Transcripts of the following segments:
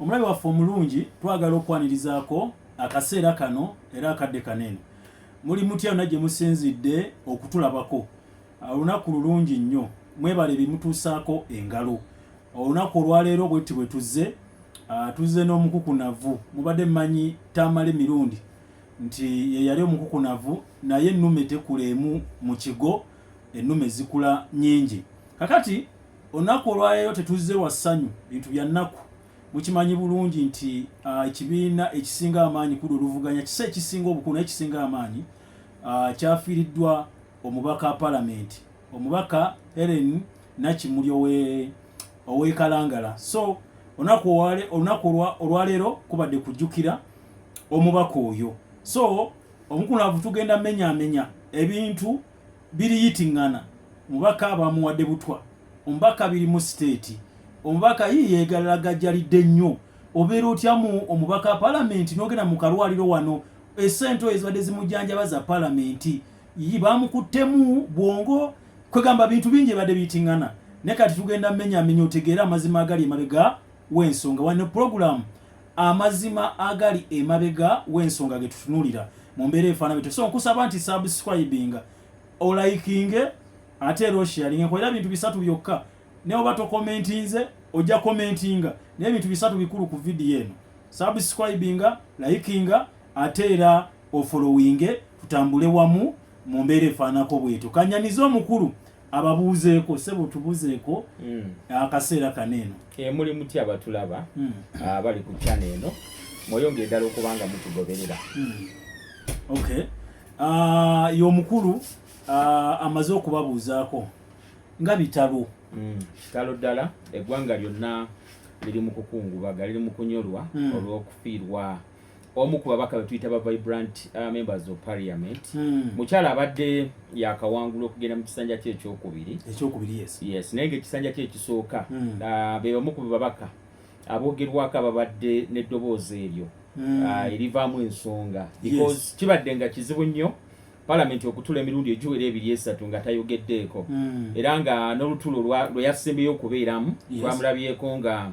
Omulabi waffe omulungi twagala okwanirizaako akaseera kano era akadde kano eno. Muli mutya yonna gye musinzidde okutulabako? Olunaku lulungi nnyo. Mwebale ebimutuusaako engalo. Olunaku olwaleero bwetti bwe tuzze, ah, tuzze n'omukukunavu. Mubadde mmanyi Tamale Mirundi nti ye yali omukukunavu, naye ennume tekula emu mu kigo, ennume zikula nnyingi. Kakati. Olunaku olwaleero tetuzze wa ssanyu, bintu bya nnaku. Mukimanyi bulungi nti ekibiina ekisinga amaanyi kuda oluvuganya kisa ekisinga obukulu naye kisinga amaanyi kyafiiriddwa omubaka palamenti omubaka Helen Nakimuli ow'e Kalangala. So olunaku olunaku olwaleero kubadde kujjukira omubaka oyo. So omukunaavu tugenda menyamenya ebintu biriyitingana mubaka abamuwadde butwa omubaka biri mu state omubaka yii yegalagajjalidde nnyo obeera otyamu omubaka palamenti nogenda mu kalwaliro wano esente oyo ezibadde zimujjanjaba za palamenti yii bamukuttemu bwongo kwegamba bintu bingi ebadde biyitingana naye kati tugenda menyamenya otegeere amazima agali emabega wensonga wano programu amazima agali emabega w'ensonga ge tutunulira mu mbeera efaana bwetyo so nkusaba nti subscribinga olaikinge ate era osharinge nkolera bintu bisatu byokka naye oba tokomentinze ojja komentinga naye bintu bisatu bikulu ku vidiyo eno subscribinga likinga ate era ofolowinge tutambule wamu mu mbeera efaanako bwetyo kanyanize omukulu ababuuzeeko sebo tubuzeeko mm. akaseera kano eno eh, muli muti abatulaba mm. ah, bali ku kyana eno mweyongere ddala okubanga mutugoberera mm. ok ah, ye omukulu ah, amaze okubabuuzaako nga bitalo kitalo ddala eggwanga lyonna liri mu kukungubaga liri mu kunyolwa olw'okufiirwa omu ku babaka betuyita ba vibrant uh, members of parliament hmm. mukyala abadde yakawangula okugenda mu kisanja kye ekyokubiri ekyokubiri yes yes naye nga ekisanja kye ekisooka hmm. uh, be bamu ku babaka abogerwako ababadde n'eddoboozi eryo hmm. uh, erivaamu ensonga because kibadde nga kizibu nnyo palamenti okutula emirundi egiwera ebiri esatu nga tayogeddeeko era nga n'olutulo lwe yasembeyo okubeeramu twamulabyeko nga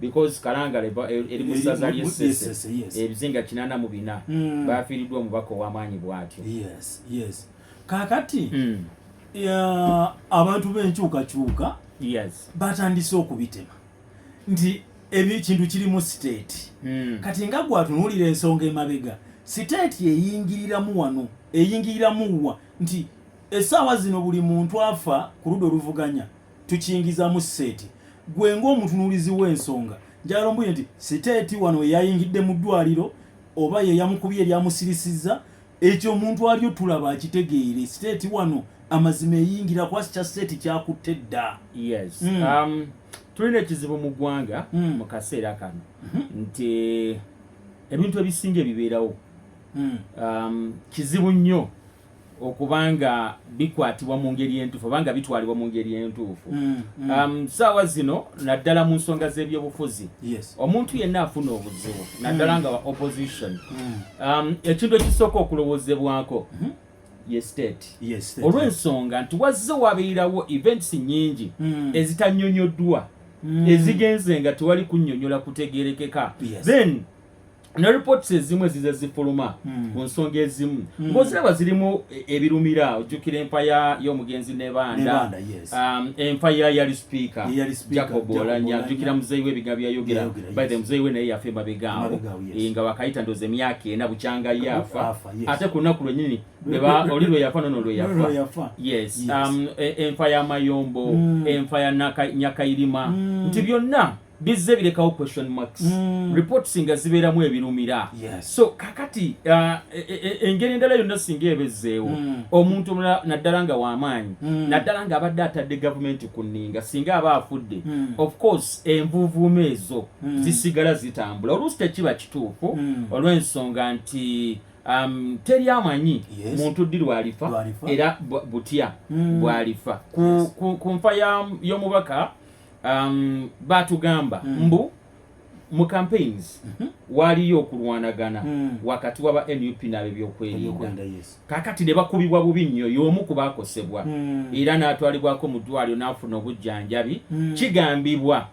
because kalangala eri mu ssaza ly'essese ebizinga kinana mu bina mm. baafiiriddwa omubaka ow'amaanyi bw'atyo kaakati mm. abantu b'enkyukakyuka batandise okubitema nti ekintu kiri mu siteeti mm. kati nga gwatunuulira ensonga emabega siteeti eyingiriramu wano eyingiriramu wa nti essaawa zino buli muntu afa ku ludda oluvuganya tukiyingizamu sseeti gwe ng'omutunuulizi w'ensonga njagala ombuye nti siteeti wano weyayingidde mu ddwaliro oba yeyamukubye eryamusirisizza ekyo omuntu aliyo tulaba akitegeere siteeti wano amazima eyingira kwasi kya siteeti kyakutte dda yes. mm. um, tulina ekizibu mu ggwanga mm. mu kaseera kano mm -hmm. nti ebintu ebisinga ebibeerawo mm. um, kizibu nnyo okuba nga bikwatibwa mu ngeri entuufu oba nga bitwalibwa mu ngeri entuufu mm, mm. Um, saawa zino naddala mu nsonga z'ebyobufuzi omuntu yenna afuna obuzibu naddala mm. nga wa opposition um, ekintu ekisooka okulowoozebwako mm-hmm. ye state olw'ensonga nti wazze wabeerawo events nyingi ezitanyonyoddwa ezigenze nga tewali kunyonyola kutegerekeka then ne reports ezimu ezize zifuluma hmm. ku nsonga ezimu hmm. ng'oziraba zirimu e, ebirumira ojjukira empaya y'omugenzi nebanda um, empaya yali speaker jacob olanya ajjukira muzeeyi we ebigambo yayogera by the muzeeyi we naye yafa emabegaawo eh, nga wakayita ndoza emyaka ena bukyanga yafa ate ku lunaku lwenyini oli lwe yafa nono lwe yafa yes um, e, enfa ya mayombo hmm. enfa ya nyakayirima nti byonna bizze birekawo question marks mm. reports nga zibeeramu ebirumira yes. so kakati uh, e, e, e, engeri endala yonna singa ebezzeewo mm. omuntu omulala naddala nga wamaanyi mm. naddala nga abadde atadde gavumenti ku nninga singa aba afudde mm. of course envuuvuuma ezo mm. zisigala zitambula oluusi tekiba kituufu mm. olw'ensonga nti um, teri amanyi yes. muntu ddi lwalifa era butya mm. bwalifa ku, ku, ku nfa y'omubaka ya um, batugamba mm. mbu mu campaigns mm -hmm. waliyo okulwanagana mm. wakati waba nup nabebyokwerinda yes. kakati ne bakubibwa bubi nnyo y'omu ku bakosebwa mm. era n'atwalibwako mu ddwaliro n'afuna obujjanjabi mm. kigambibwa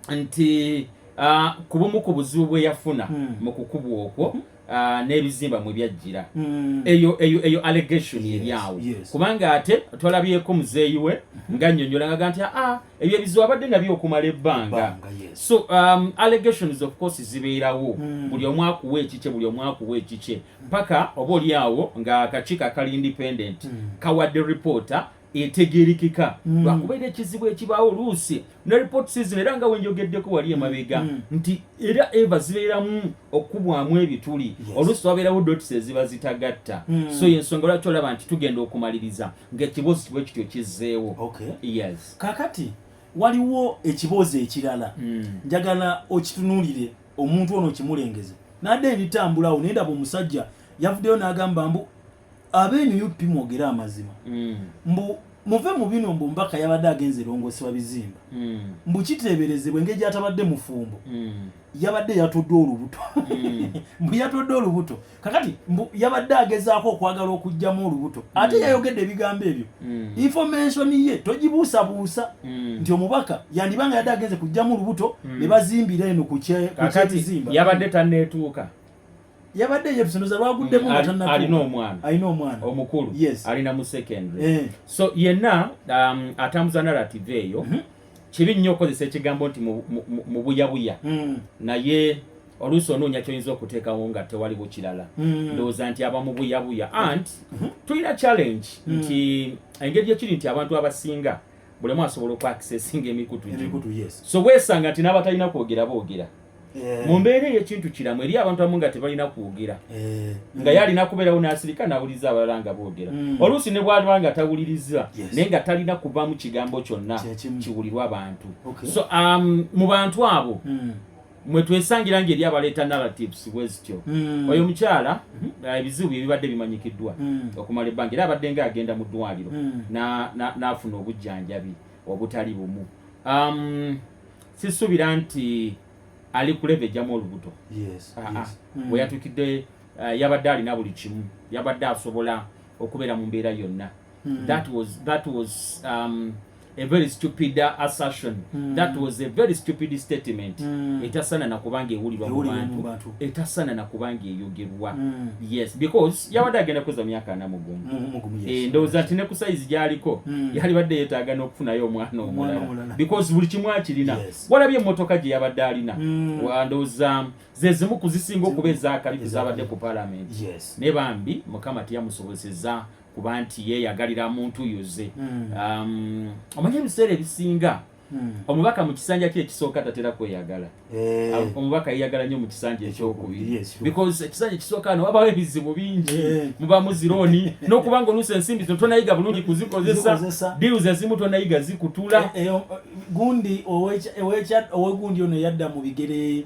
nti uh, ku bumu ku buzibu bwe yafuna mm. mu kukubwa okwo mm -hmm. Ah, n'ebizimba mwe byajjira hmm. eyo eyo eyo allegation eryawo kubanga ate twalabyeko muzeeyi we hmm. nga nnyonnyola ngaga nti aa ah, ebyo ebizibu abadde nabyo okumala ebbanga so um, allegations of course zibeerawo hmm. buli omu akuwa ekikye buli omu akuwa ekikye paka oba olyawo nga akakiiko akali independent kawadde reporter etegerekeka mm. lwakuba era ekizibu ekibaawo oluusi ne reports zino era nga wenjogeddeko wali emabega mm. nti era eva zibeeramu okukubwamu ebituli oluusi wabeerawo dots eziba zitagatta mm. so yensonga lwaki olaba nti tugenda okumaliriza ngaekiboozi kibwe kityo kizzeewo yes kakati waliwo ekiboozi ekirala njagala okitunulire omuntu ono okimulengeze nadde ebitambulawo naye ndaba omusajja yavuddeyo n'agamba mbu Abe nup mwogere amazima. Mm. Mbu muve mu bino mbu mbaka yabadde agenze erongoosebwa bizimba. Mm. Mbu kiteeberezebwa engeri gyatabadde mufumbo. Mm. Yabadde yatodde olubuto. Mm. mbu yatodde olubuto. Kakati mbu yabadde agezaako okwagala okujjamu olubuto. Mm. Ate yayogedde ebigambo ebyo. Mm. Information ye togibuusabuusa mm. nti omubaka yandibanga yadde agenze kujjamu olubuto mm. ne bazimbira eno ku kyebizimba. Yabadde tanneetuuka. yabadde yebisonoza lwaguddemu nga tanna alina omwana alina omwana omukulu yes alina mu secondary eh. so yenna um, atambuza narrative eyo mm -hmm. kibi nnyo okozesa ekigambo nti mu buyabuya mm. naye oluusi onoonya kyoyinza okuteekawo nga tewali bukirala mm. ndowooza nti aba mu buyabuya mm. ant mm-hmm. tulina challenge mm. nti engeri gyekiri nti abantu abasinga bulemu asobola okwakisesinga emikutu so weesanga nti n'abatalina kwogera boogera Eh. mu mbeera ey'ekintu kiramu eri abantu abamu nga tebalina kwogera eh. nga yalina kubeerawo n'asirika n'awuliriza abalala nga boogera hmm. oluusi ne bwaliba nga tawuliriza naye nga talina kuvaamu kigambo kyonna kiwulirwa abantu so um, mu bantu abo hmm. mwe twesangira nga eri abaleeta narratives bwezityo hmm. oyo omukyala uh, ebizibu bye bibadde bimanyikiddwa okumala ebbanga era abadde nga agenda mu ddwaliro n'afuna obujjanjabi obutali bumu um, sisubira nti ali kuleva ejjamu olubuto weyatuukidde ah, ah. hmm. eh, yabadde alina buli kimu yabadde asobola okubeera mu mbeera yonna hmm. that was, that was um, a very stupid uh, assertion mm. that was a very stupid statement mm. etasana nakubanga ewulirwa mu bantu etasana nakubanga eyogerwa mm. yes because yabadde agenda kukoza emyaka ana mugumu eh, ndowooza nti ne ku sayizi gyaliko hmm. yalibadde yetaaga n'okufunayo omwana omulala because buli kimu akirina walabye emmotoka gye yabadde alina hmm. ndowooza ze zimu ku zisinga okuba ezakalifu zabadde ku palamenti ne bambi mukama teyamusobozesa kuba nti yeyagalira muntu yuze hmm. um, omanyi ebiseera ebisinga Hmm. omubaka mu kisanja kye ekisooka tatera kweyagala eh. omubaka yeyagala nnyo mu kisanja ekyokubiri because ekisanja ekisooka no wabawo ebizibu bingi eh. muba muzirooni nokuba nga oluusi ensimbi zino tonayiga bulungi kuzikozesa deals ezimu tonayiga zikutula eh, gundi owegundi ono yadda mu bigere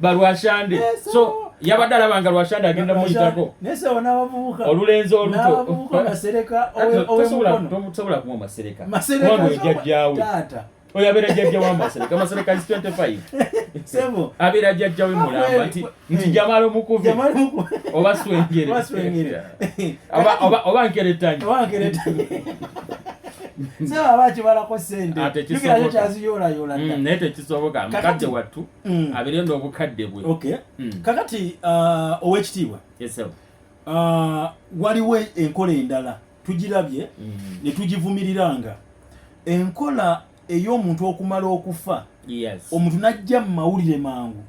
balwashande so yabadde alaba nga lwashande agenda muyitako olulenzi olutotosobola kuwa masereka oyo jajjawe oyo abeera jajja wa masereka masereka is 25 abeera jajja we mulamba nti nti jamala omukubi oba swengere oba nkeretanyi sebo aba akibalako sente ah, naye tekisoboka mukadde wattu mm. aberenda obukadde bwe okay. mm. kakati uh, owekitiibwa yes, uh, waliwo enkola endala tugirabye mm. ne tugivumiriranga enkola ey'omuntu okumala okufa yes. omuntu najja mu mawulire mangu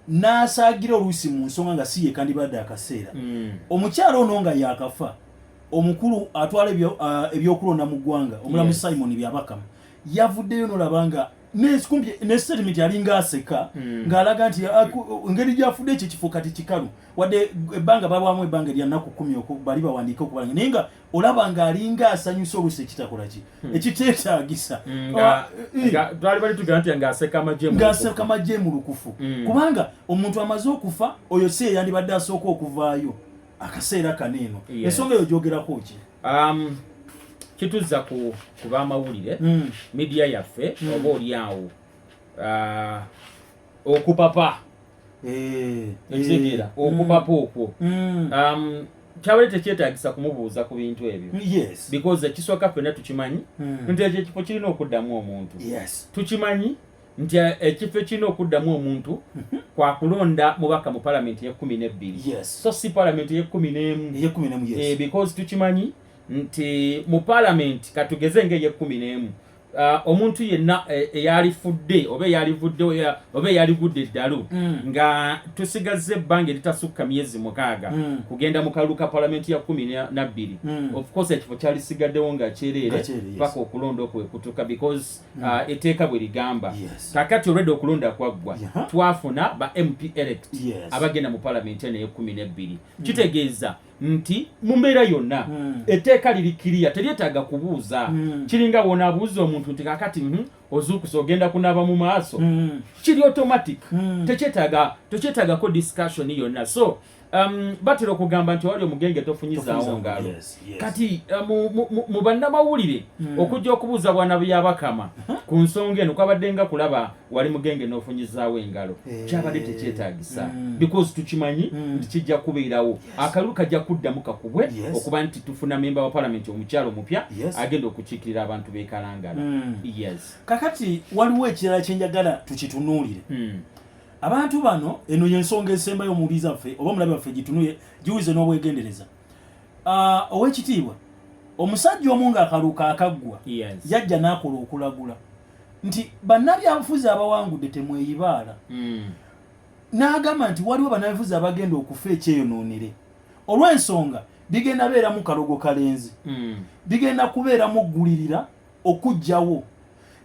n'asaagira oluusi mu nsonga nga si yekandibadde akaseera mm. omukyala ono nga yakafa omukulu atwala uh, ebyokulonda mu ggwanga omulamu yes. simon byabakama yavuddeyo nolaba nga nesetimenti alinga aseka hmm. ng'alaga nti ah, engeri gyafudde ekyo kifo kati kikalu wadde ebbanga babwamu ebbanga erya nnaku kumi bali bawandiike okubalanga naye nga olaba ng'alinga asanyusa oluusi ekitakola ki hmm. ekiteetaagisa hmm, ah, eh, ng'aseka amagye mu lukufu kubanga omuntu amaze okufa oyo si eyandibadde asooka okuvaayo akaseera kano eno ensonga eyo gyogerako ki um, kituzza ku bamawulire hmm. midiya yaffe hmm. oba oli awo uh, okupapa eh, ekitegeera eh, okupapa hmm. okwo um, kyabale tekyetagisa kumubuuza ku bintu ebyo because ekisooka ffena tukimanyi nti ekyo ekifo kirina okuddamu omuntu tukimanyi nti eh, ekifo ekirina okuddamu omuntu mhm. kwakulonda mubaka mu palamenti eyekumi nebbiri so si palamenti eyekumi nemu eh, because tukimanyi nti mu palamenti katugeze nga eyekumi nemu ah, omuntu yenna eh, eyalifudde oba eyalivudde oba eyaligudde eddalu mm. nga tusigazza ebbanga eritasukka myezi mukaaga mm. kugenda mu kalulu ka palamenti ya kumi nabbiri mm. ofcourse ekifo kyalisigaddewo nga kyereere paka okulonda okwekutuka because Mm. Uh, eteeka bwe ligamba kakati olwedde okulonda kwaggwa twafuna ba mp elect abagenda mu palamenti eno eyekumi nebbiri mm. kitegeeza nti mu mbeera yonna mm. eteeka liri kiriya teryetaaga kubuuza kiringa wona abuuza omuntu nti kakati mhm, ozuukusa ogenda kunaaba mu maaso kiri automatic tekyetagako discussion yonna so Um, batera okugamba nti wali omugenge tofunyizaawo ngalo yes, yes. kati uh, mu, mu, mu, mu bannamawulire mm. okujja okubuuza bwana byabakama huh? ku nsonga eno kwabadde nga kulaba wali mugenge n'ofunyizaawo engalo hey. Eh. kyabadde tekyetagisa mm. because tukimanyi mm. nti kijja kubeerawo yes. akalulu kajja kuddamu kakubwe yes. okuba nti tufuna memba wa palamenti omukyalo omupya yes. agenda okukiikirira abantu bekalangala mm. yes. kakati waliwo ekirala kyenjagala tukitunuulire mm. Abantu bano eno yensonga esembayo mu biza ffe oba mulabe waffe gitunuye giwuze n'obwegendereza. Uh, owekitiibwa omusajja omu nga akaluka akaggwa yes. yajja n'akola okulagula nti bannabyabufuzi abawangudde temweyibaala mm. n'agamba nti waliwo bannabyabufuzi abagenda okufa ekyeyonoonere olw'ensonga bigenda beeramu kalogo kalenzi mm. bigenda kubeeramu ggulirira okujjawo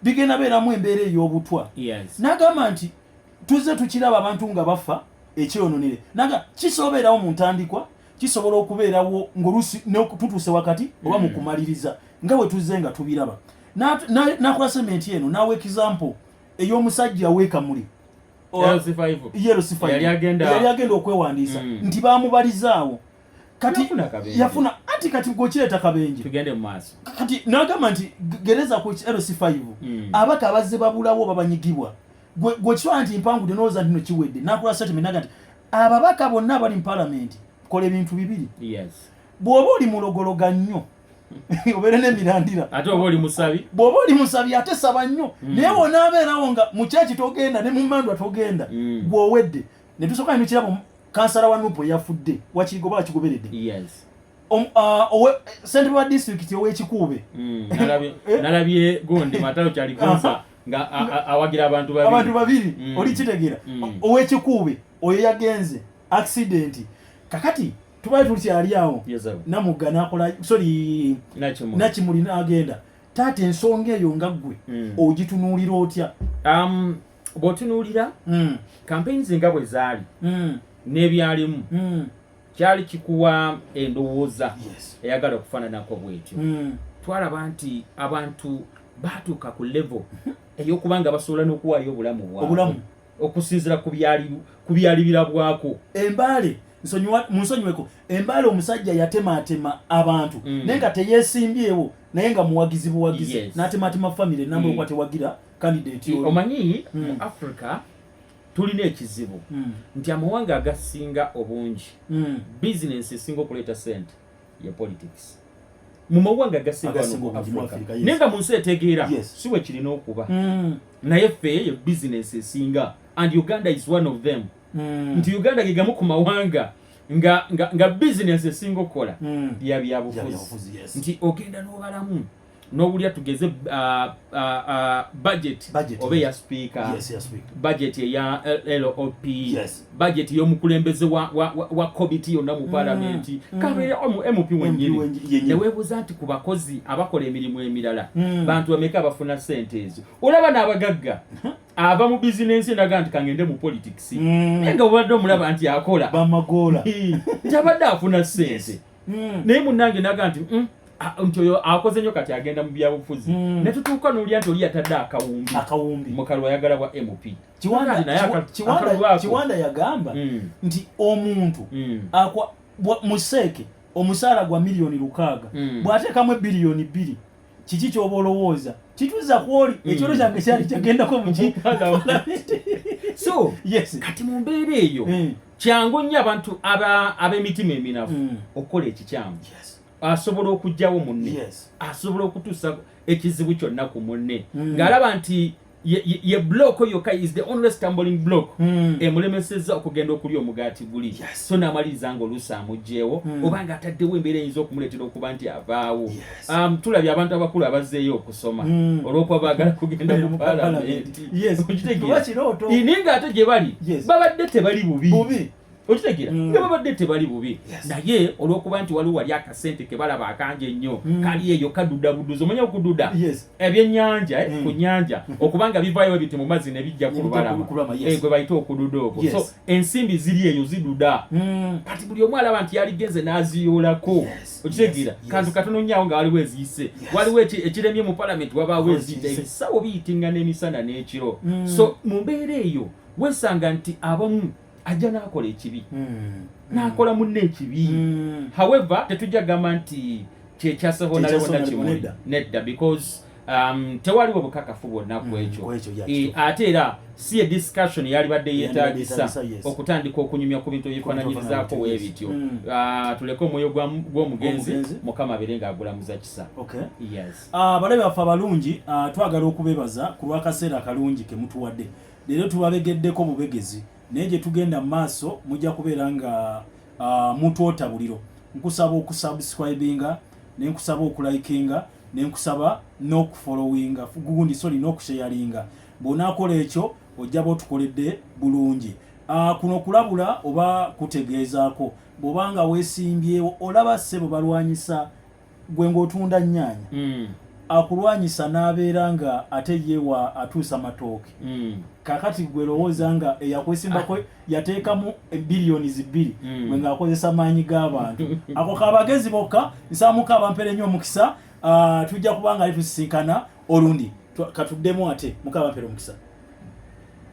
bigenda beeramu embeera ey'obutwa yes. nagamba nti tuzze tukiraba abantu nga bafa ekyeyononere naga kisobeerawo mu ntandikwa kisobola okubeerawo ngaolusi tutuuse wakati oba mu mm. kumaliriza nga bwe tuzze nga tubiraba nakola sementi eno nawa ekizampo ey'omusajja wekamuli yali agenda okwewandiisa mm. nti bamubalizaawo kati yafuna kabenje yafuna ati kati gochileta kabenje tugende maso kati nagamba nti gereza ku LC5 mm. abaka abazze babulawo babanyigibwa gwe gwe chwa nti mpangu de noza ndino chiwede nakula sati minaga nti ababaka bonna bali mu parliament kole bintu bibiri yes bwoba oli mulogologa nnyo obeere nemirandira ate oba oli musabi bwoba oli musabi ate saba nnyo mm. naye wonaabeerawo nga mukyaki togenda ne mumandwa togenda mm. gwowedde mm. ne tusooka ne tukiraba kansala wa nupu eyafudde wakirigoba wakigoberedde yes. Um, uh, sente wa disitulikiti owekikuube mm, eh? nalabye gundi matalo kyali kansa nga awagira abantu babiri abantu babiri mm. oli kitegera mm. owekikuube oyo yagenze akisidenti kakati tubaye tukyali awo namugga nakola sori nakimuli nagenda taata ensonga eyo nga ggwe ogitunuulira otya um, bwotunuulira mm. campaign zinga bwe zaali mm. n'ebyalimu mm. kyali kikuwa endowooza yes. eyagala okufaananako bwetyo mm. twalaba nti abantu baatuuka ku level mhm. ey'okuba nga basobola n'okuwaayo obulamu bwabulamu okusinzira ku byali birabwako embaale munsonyiweko embaala omusajja yatematema abantu mm. naye nga teyesimbyewo naye nga muwagizi buwagizi yes. natematema famiry namba mm. okuba tewagira candidate omanyi mm. mu africa tulina ekizibu mm. nti amawanga agasinga obungi mm. bizinensi esinga okuleeta sente ye politics mu mawanga agasinga mu africa yes. naye nga mu nsi etegeera yes. si wekirina okuba mm. naye ffe ye bizinensi esinga and uganda is one of them mm. nti uganda gegamu ku mawanga nga, nga, nga bizinensi esinga okukola mm. ya byabufuzi yes. nti ogenda n'obalamu n'obulya tugeze uh, uh, uh, budget oba eya sipiika budget eya lop budget y'omukulembeze wa kobiti yonna mu mm. palamenti mm. kabeera mp wenyini neweebuuza nti ku bakozi abakola emirimu emirala mm. bantu bameka abafuna sente ezo olaba n'abagagga ava mu bizinensi endaga nti kangende mu politics naye nga obadde omulaba nti akola bamagoola nti abadde afuna sente mm. naye munange naga nti mm, nti oyo akoze nyo kati agenda mu byabufuzi mm. netutuuka nolya nti oli yatadde akawumbi akawumbi mukalwa ayagala bwa mp kiwanda yagamba mm. nti omuntu mm. akwa museeke omusaala gwa miliyoni lukaaga mm. bwateekamu ebiliyoni bbiri kiki kyoba olowooza kituza kwoli mm. ekyolo kyange kyali kyagendako muki so yes kati mu mbeera eyo mm. kyangu nnyo abantu ab'emitima eminafu hmm. okukola ekikyamu asobola okugyawo munne asobola okutuusa ekizibu kyonna ku munne hmm. ng'alaba nti ye block yokka is the only stumbling block hmm. emulemeseza okugenda okulya omugaati guli so n'amaliriza ng'oluusi amugyewo oba ng'ataddewo embeera eyinza okumuleetera okuba nti avaawo Um, tulabye abantu abakulu abazzeeyo okusoma mm. olwokuba baagala kugenda mu palamentiine nga ate gye bali babadde tebali bubi okitegera mm. nga babadde tebali bubi naye olwokuba nti waliwo wali akasente kebalaba akangi ennyo mm. kali eyo kaduda buduzi omanya okududa ebyenyanja eh, mm. ku nyanja okubanga bivayo ebiti mu mazzi ne bijja ku lubalama eh, gwe bayita okududa okwo so ensimbi ziri eyo ziduda kati buli omu alaba nti yaligenze n'aziyoolako okitegeera kantu katono nnyo awo nga waliwo eziyise waliwo ekiremye mu palamenti wabaawo eziyita ebisawo biyitinga n'emisana n'ekiro hmm. so mu mbeera eyo wesanga nti abamu ajja n'akola ekibi hmm. n'akola munne ekibi hmm. however tetujja kugamba nti kyekyasaho nalewo nakimu nedda because um, tewaliwo bukakafu bwonna ku mm, ekyo e, ate era si ediscussion yalibadde yetagisa okutandika okunyumya ku bintu ebyefananyirizaako webityo mm. ah, tuleke omwoyo gw'omugenzi mukama abeere nga agulamuza kisa ah, balabe baffe abalungi ah, twagala okubebaza ku lwakaseera akalungi kemutuwadde leero tubabegeddeko bubegezi naye gye tugenda mu maaso mujja kubeera nga mutwota buliro nkusaba okusubscribinga nenkusaba okulikinga nenkusaba n'okufolowinga gundi sorry n'okusheyaringa bw'onaakola ekyo ojja ba otukoledde bulungi ah, kuno kulabula oba kutegeezaako bw'oba nga weesimbyewo olaba ssebo balwanyisa gwe ng'otunda nnyaanya mm. akulwanyisa n'abeera nga ate yewa atuusa matooke mm. kakati gwe lowooza nga eyakwesimbako ah. yateekamu billions bbiri mm. we ng'akozesa maanyi g'abantu ako kabagezi bokka nsaamuka abampere nnyo omukisa uh, tujja kuba nga ali tusisinkana olundi katuddemu ate mukabampere omukisa